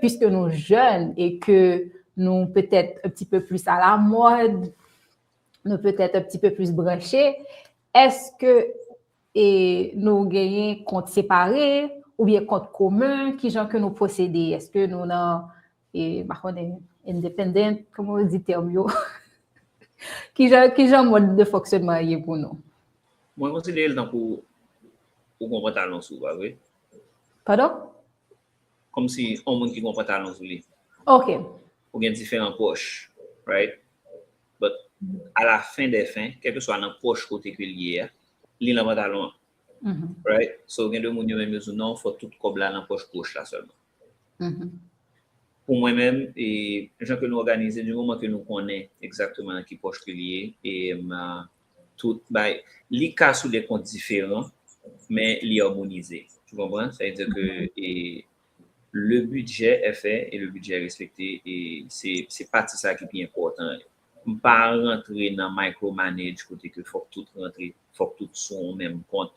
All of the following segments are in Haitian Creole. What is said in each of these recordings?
puisque nou jèn e ke nou petèt un pti peu plis a la mòd, nou petèt un pti peu plis branche, èske e nou genyen kont separe oubyen kont komen, kijan ke nou pwosede? Èske nou nan e m pa konnen independent, kouman yo di tèm yo? Kijan kijan mòd de fonksyonman an ye pou nou? Mwen konsidere l tankou ou gon pantalon sou, pa vre? Padon? Kòmsi yon moun ki gen yon pantalon sou li. Ok. Ou gen diferan pòch, right? But, a la fen dè fen, kèlkeswa nan pòch kote ke l ye a, li nan pantalon an. Right? So, gen de moun yo menm yo di non, fò tout kòb la nan pòch goch la sèlman. Pou mwen menm, e jan ke nou òganize, di moman ke nou konnen egzakteman nan ki pòch ke l ye, e tout bay li ka sou de kont diferan men li armonize tu konprann sa vle di ke e le bidjè è fè e le bidjè è respekte e se se pati sa ki pi enpòtan yo m pa rantre nan micro manage kote ke fòk tout rantre fòk tout sou yon menm kont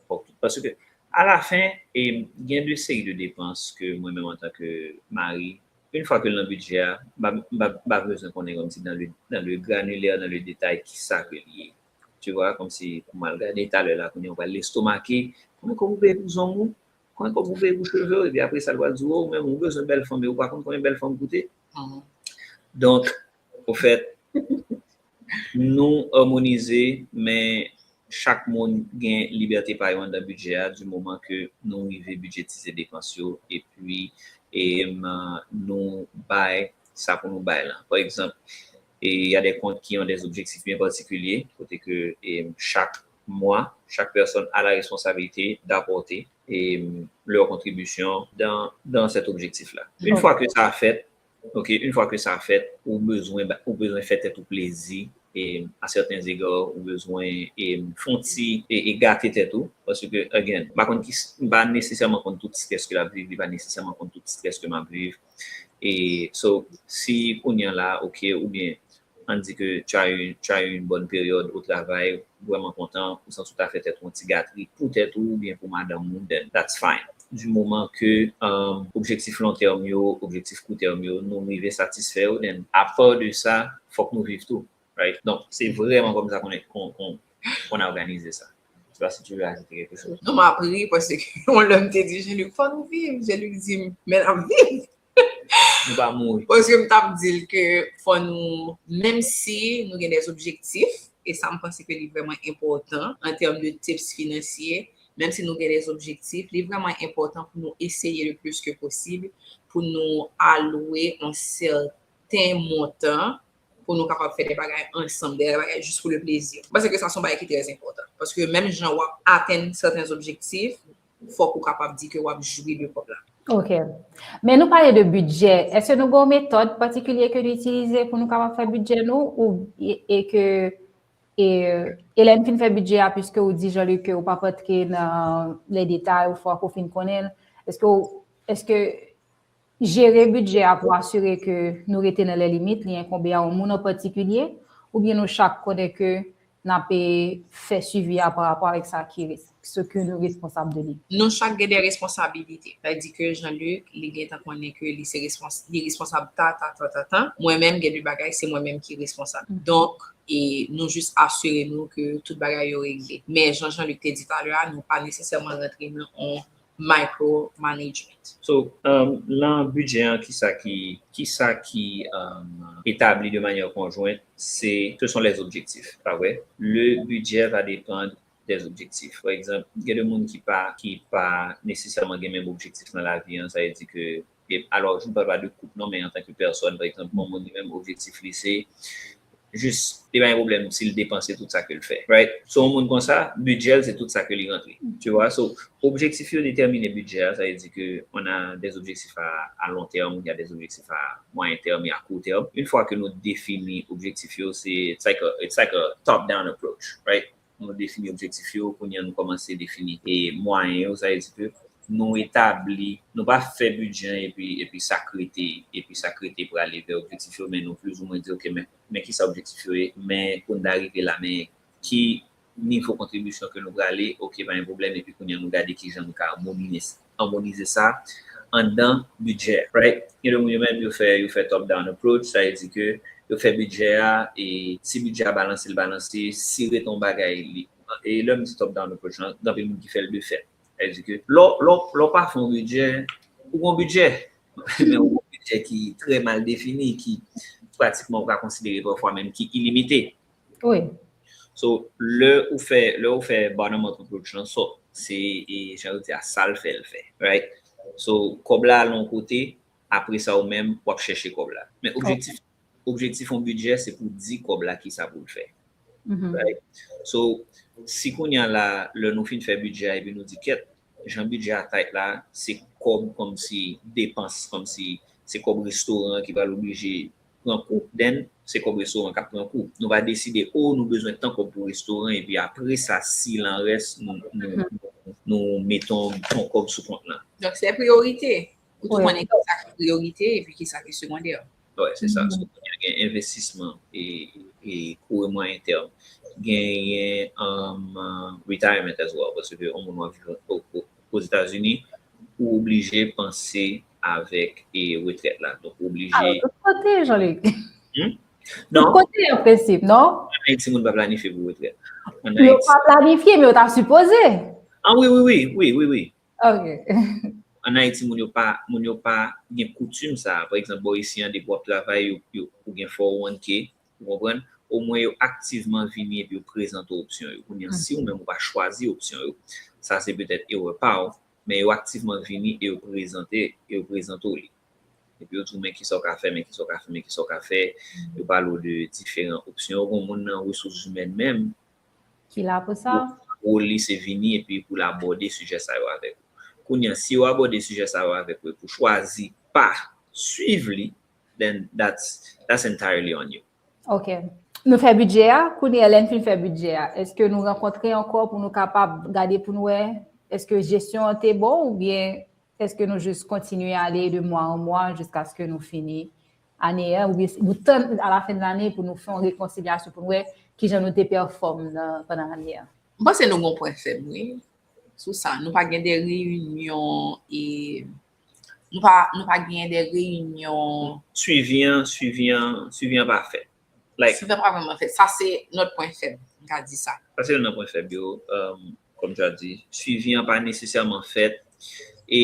fòk tout paske a la fen e gen de seri de depans ke mwen menm antanke mari Une fwa ke l nan bidjè a, m pa bezwen konnen kòmsi dan le granilè, dan le detay kisa ke li ye. Tu vois, kòmsi pou m al gade talè la kounye a ou pral lestomake, konbyen kòb ou peye pou zong ou, konbyen kòb ou peye pou cheve w, epi apresa l pral di w, oh ou menm ou bezwen bèl fanm e ou pa konn konbyen bèl fanm koute. Donk, ofèt, Nou òmonize men chak moun gen libète pa yo anndan bidjè a di moman ke nou rive bidjetize depans yo epi nou bay sa pou nou bay lan. Pa egzanp, y a des comptes qui ont des objectifs bien particuliers kote ke chak mwa, chak pèsòn a la responsabilite d'apporter leur contribution dans cet objectif là. Une fois que sa fèt, Ok une fois que sa fèt ou bezwen ou bezwen fè tèt ou plezi a certains egards ou bezwen fon ti gate tèt ou paske again m pa konn kisa m pa nesesèman konn tout stress ke lap viv li pa nesesèman konn tout stress ke map viv so si kounya la ok oubyen Ann di ke tu as eu une bonne période au travail, ou vrèman kontan, ou santi w ta fè tèt ou yon ti gatri pou tèt ou oubyen pou madanm ou, then that's fine. Du moman ke objektif long terme yo, objektif court terme yo, nou rive satisfè yo, then a part de sa, fòk nou viv tou, right? Donk, se vrèman kòm sa konn òganize sa. Je sais pas si tu veux ajouter quelque chose. Non, m ap ri paske yon lè m te di Jean-Luc, fòk nou viv, Jean-Luc di m, men n ap viv! nou pa mouri. Paske m tap di l ke fò nou menm si nou gen des objectifs e sa m panse ke li vrèman enpòtan an term de tips finansye menm si nou gen des objectifs li vrèman enpòtan pou nou eseye le plus ke posib pou nou alwe on sèten montan pou nou kapab fè des bagay ansanm des bagay jis pou le plezi m panse ke sa son bagay ki trè enpòtan paske menm jan wap atenn sèten objectifs fòk ou kapab di ke wap jwi de kòb la. Ok. Men nou pale de bidjè, eske nou gen yon metòd patikilye ke nou itilize pou nou kapab fè bidjè nou ou e ke e lè nou fin fè bidjè a piske ou di Jean-Luc ke ou pap antre nan lè detay ou fòk ou fin konnen l, eske ou eske Jere bidjè a pou asire ke nou rete nan lè limit li enkonbe a yon moun an patikilye oubyen nou chak konnen ke n ap fè swivi a pa rapò avèk sa ki rete, se ke nou responsab de li. Nou chak gen de responsabilite. Sa di ke Jean-Luc li gen tan konnen ke li se respons, li responsab ta ta ta ta ta, mwen menm gen de bagay se mwen menm ki responsab. Donk, e nou jis asire nou ke tout bagay yo regle. Men jan Jean-Luc te di talè a, nou pa nesesèman rantre nan yon micro management. So, lan bidjè an kisa ki, kisa ki etabli de manyè konjwent, se, se son les objectifs, pa vre? Le bidjè va depandre des objectifs. For example, gen de moun ki pa, ki pa nesesèman gen menm objektif nan lavi an, sa vle di ke E alò, m pa pale de koup non men antanke pèsòn, pa egzanp, yon moun li menm objektif li se jis li pa gen pwoblèm si l depanse tout sa ke l fè, right? So yon moun konsa, bidjè l se tout sa ke li rantre, tu vois? So, objektif yo detèmine bidjè a, sa vle di ke on a des objectifs à à long terme, il y a des objectifs à moyen terme et à court terme. Une fois que nou defini objektif yo, se it's like a it's like a top down approach, right? Nou defini objektif yo, kounye an nou kòmanse defini mwayen yo, sa vle di ke nou etabli, nou pa fè bidjè an epi sak rete, epi sak rete prale vè objektif yo, men nou plizoumwen di ok men kisa objektif yo ye, men pou n ta rive la men ki nivo kontribisyon ke nou prale, ok pa gen pwoblèm epi kounye an nou gade kijan nou ka mobilize. anmonize sa anndan bidjè a. Right? Gen de moun yo menm yo fè yo fè top down approach, sa vle di ke yo fè bidjè a e si bidjè a balanse l balanse, si rete yon bagay li e lè m di top down approach lan, gen anpil moun ki fè l de fèt. Sa vle di ke lè w lè w pa fè yon bidjè, ou gen yon bidjè men ou gen yon bidjè ki trè mal defini ki pratikman ou ka konsidere pafwa menm ki ilimite. Wi. So, lè ou fè, lè ou fè bottom up approach lan, so, se, e, jan yo di a, sa l fè l fè. Right? So, kòb la al yon kote, apre sa ou menm, w ap chèche kòb la. Men objektif, objektif yon bidjè se pou di kòb la ki sa pou l fè. Right? So, si kounye a la, lè nou fin fè bidjè a epi nou di kèt, jan bidjè a tight la, se kòb kòmsi depans, kòmsi se kòb restoran ki pral oblije pran kou then se kòb restoran kap pran kou nou va deside oh nou bezwen tan kòb pou restoran epi apresa si lan rès nou mete yon bon kòb sou kont lan. Donk se priyorite ou tou konnen kisa ki priyorite epi kisa ki segondè. Wè se sa sou kounye a gen envestisman e kou e mwayen tèm genyen retirement as well paske yon moun wap viv ozetazini ou oblije panse avèk e retrèt la. Donk ou oblije. Alo tout kote Jean Luc. Hum? Non. Tout kote an prensip, non? An Ayiti moun pa planifye pou retrèt. An Ayiti. Yo pa planifye men yo ta sipoze. An wi wi wi, wi wi wi. Ok. An Ayiti moun yo pa, moun yo pa gen koutim sa a. Pa egzanp bò isi an depi wap travay yo, yo, ou gen 401K, ou konprann? Omwen yo aktivman vini epi yo prezante w opsyon yo. Kounye an si ou menm ou pa chwazi opsyon yo, sa se petèt erè pa w. Men yo aktivman vini e yo prezante e yo prezante w li. Epi yo di w men ki sa w ka fè, men ki sa w ka fè, men ki sa w ka fè. Yo pale w de diferan opsyon. Yo gen yon moun nan resous imèn menm. Ki la pou sa. Wòl li se vini epi pou l abòde sijè sa yo avèk ou. Kounye a, si yo abòde sijè sa yo avèk ou epi w chwazi pa swiv li, then that's entirely on you. Ok. Nou fè bidjè a, kounye lè n fin fè bidjè a, eske nou rankontre ankò pou nou kapab gade pou nou wè, eske jesyon an te bon ou byen eske nou jis kontinye ale de mwa an mwa jiskaske nou fini ane a ou byen nou tann a la fen lane pou nou fè yon rekonsilyasyon pou nou wè ki jan nou te pèfòm nan pandan ane a? M panse nou gen yon pwen fèb wi sou sa. Nou pa gen de reyinyon e Nou pa, nou pa genyen de reyinyon. Swivi an, swivi an, swivi an pa fèt. Like. Swivi an pa vrèman fèt. Sa se lòt pwen fèb, m ka di sa. Sa se youn nan pwen fèb yo, kòm tu as di. Swivi an pa nesesèman fèt. E,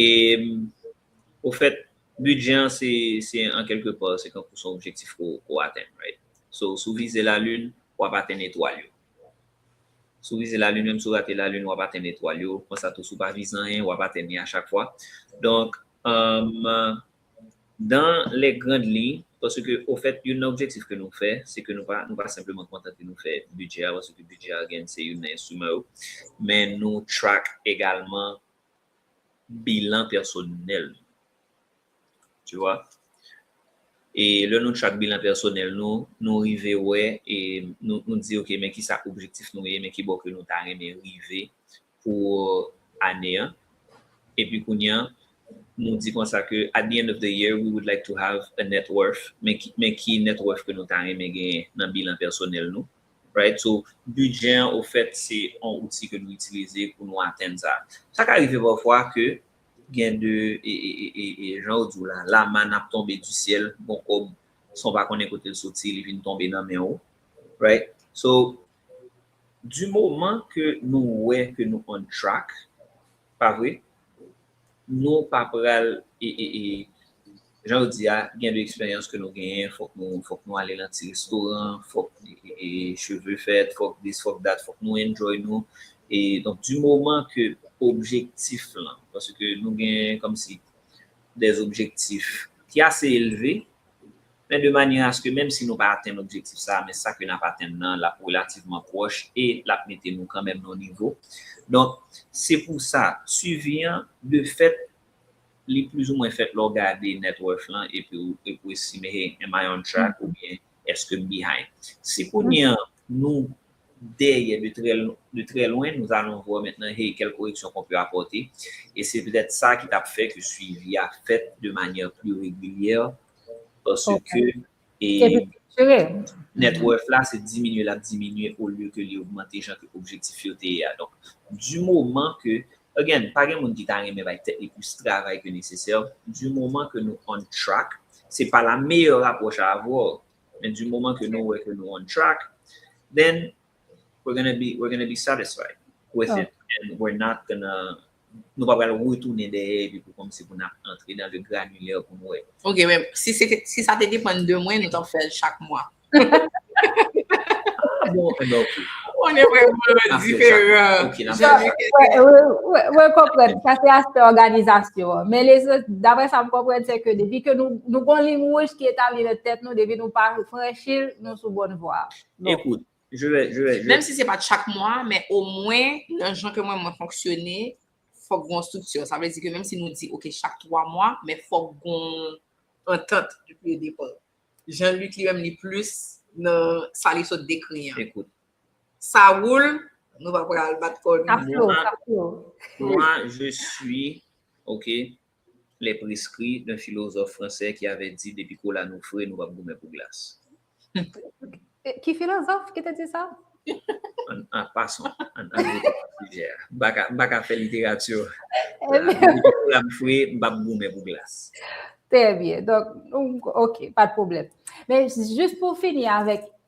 ofèt, bidjè an se, se an kèlke pò, se tankou son objektif ke w, ke w atenn, right? So, si w vize lalin, w ap atenn etwal yo. Si w vize lalin menm si w rate lalin w ap atenn etwal yo konsa tou si w pa vize anyen w ap atenn li a chak fwa donk dan lè grand liy paske ofèt youn nan objektif ke nou fè se ke nou pa senpleman kontante nou fè bidjè a paske bidjè a gen se youn nan enstriman yo men nou track egalman bilan pèsonèl nou. Tu wè? E lè nou chak bilan pèsonèl nou, nou rive wè e nou di ok men kisa objektif nou ye, men kibò ke nou ta renmen rive pou ane an. Epi kounye an, nou di konsa ke at the end of the year, we would like to have a net worth, men ki net worth ke nou ta renmen genyen nan bilan pèsonèl nou. Right? So, bidjè an ofèt se yon outil ke nou itilize pou nou atenn sa. Sa ka rive pafwa ke Gen de jan ou di w la, la manne ap tonbe du ciel, bon kòb san w pa konnen kote l soti li vin tonbe nan men ou right. So du moman ke nou wè ke nou on track pa vre, nou pa pral Jan yo di a, gen de eksperyans ke nou genyen, fòk nou fòk nou ale lan ti restoran, fòk cheve fèt, fòk dis, fòk dat, fòk nou enjoy nou. E donk di moman ke objektif lan, paske nou gen kòmsi dè objektif ki ase elve, men de manyè aske menm si nou pa atenn objektif sa a, men sa ke n ap atenn nan l ap relativman pwòch e l ap mete nou kanmèm nan yon nivo. Donk se pou sa, swivi an de fèt, Li plizoumwen fèt lè w gade net worth lan epi w epi w estime hey am I on track oubyen eske m behind. Si kounye an nou dèyè de trè de trè lwen nous allons voir maintenant hey quelle correction qu'on peut apporter et c'est peut-être ça ki t ap fè ke suivi a fèt de manière plus régulière parce que Epi picture. Net worth la se diminye lap diminye o lye ke li ogmante jan ke objektif yo te ye a. Donk, du moman ke, again, pa gen moun ki ta renmen bay tèt li plis travay ke nesesè, du moman ke nou on track, se pa la meyè rapwòch a avè w, men du moman ke nou wè ke nou on track, then we're gonna be satisfied with it and we're not gonna Nou pa pral retounen dèyè epi pou kòmnse pou nap antre nan le granilè pou nou wè. Ok men si sa te depann de mwen nou tap fèl chak mwa. Ah bon enben ok. On est vraiment different. Mwen mwen konprann sa se aspè òganizasyon an men lezòt daprè sa m konprann se ke depi ke nou gon liy wouj ki etabli nan tèt nou depi nou pa franchil nou sou bòn vwa. Ekout Menm si se pat chak mwa, men o mwen nan jan ke mwen mwen fonksyone, fòk gon striktyon. Sa vle di ke menm si nou di ok chak 3 mwa, men fòk gon antant depi o depa. Jean Luc li menm li plis nan sa li sot dekri an. Ekout. Sa woul, nou pa pral bat kò nou. Sa flo, sa flo. Mwen je suis, ok. Les Prescrits d'un philosophe français qui avait dit depi kola nou fre nou pap goumen pou glas. Ki filozòf ki te di sa? An pasan, an nou rete nan sijè a. M pa ka fè literati. Depi kola m fre, m pap goumen pou glas. Trè byen. Donk, ok, pa de pwoblèm. Men, jis pou fini avèk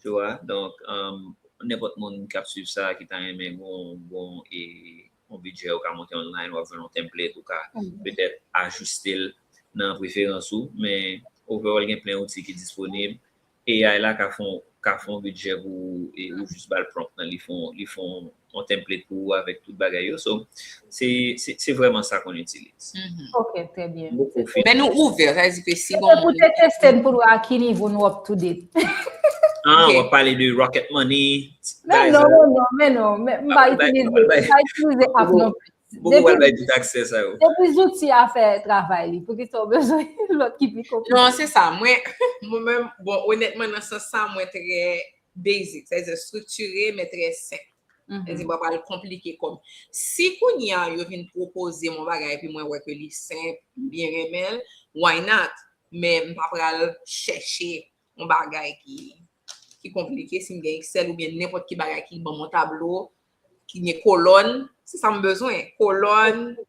Tu wa, donk nenpòt moun k ap swiv sa ki ta renmen gon bon e yon bidjè ou ka monte online ou ap jwenn yon template ou ka petèt ajiste l nan preferans ou men overall gen plen outi ki disponib. AI la ka fè w ka fè yon bidjè pou ou e ou jis ba l prompt lan li fè w li fè w yon template pou ou avèk tout bagay yo so se vrèman sa kon itilize. Ok trè byen. Men nou ouvè sa vle di ke si bon. Se pou te teste n pou nou a ki nivo nou up to date. Ah wap pale de rocket money. Men non men non men non m pa itilize app non plis. Pou wal bay tout aksè sa yo. Depi zouti a fè travay li pou kisa w bezwen lòt ki pi konplike. Non se sa mwen menm bon onètman nan sans sa mwen trè. Basic, sa vle di striktire men trè senp. Sa vle di m pa pral konplike kò m. Si kounye a yo vin pwopoze m yon bagay epi mwen wè ke li senp, m byen renmen l, why not? Men m pa pral chèche yon bagay ki konplike, si m gen Excel oubyen nenpòt ki bagay ki ban m yon tablo ki gen kolòn, se sa m bezwen, kolòn,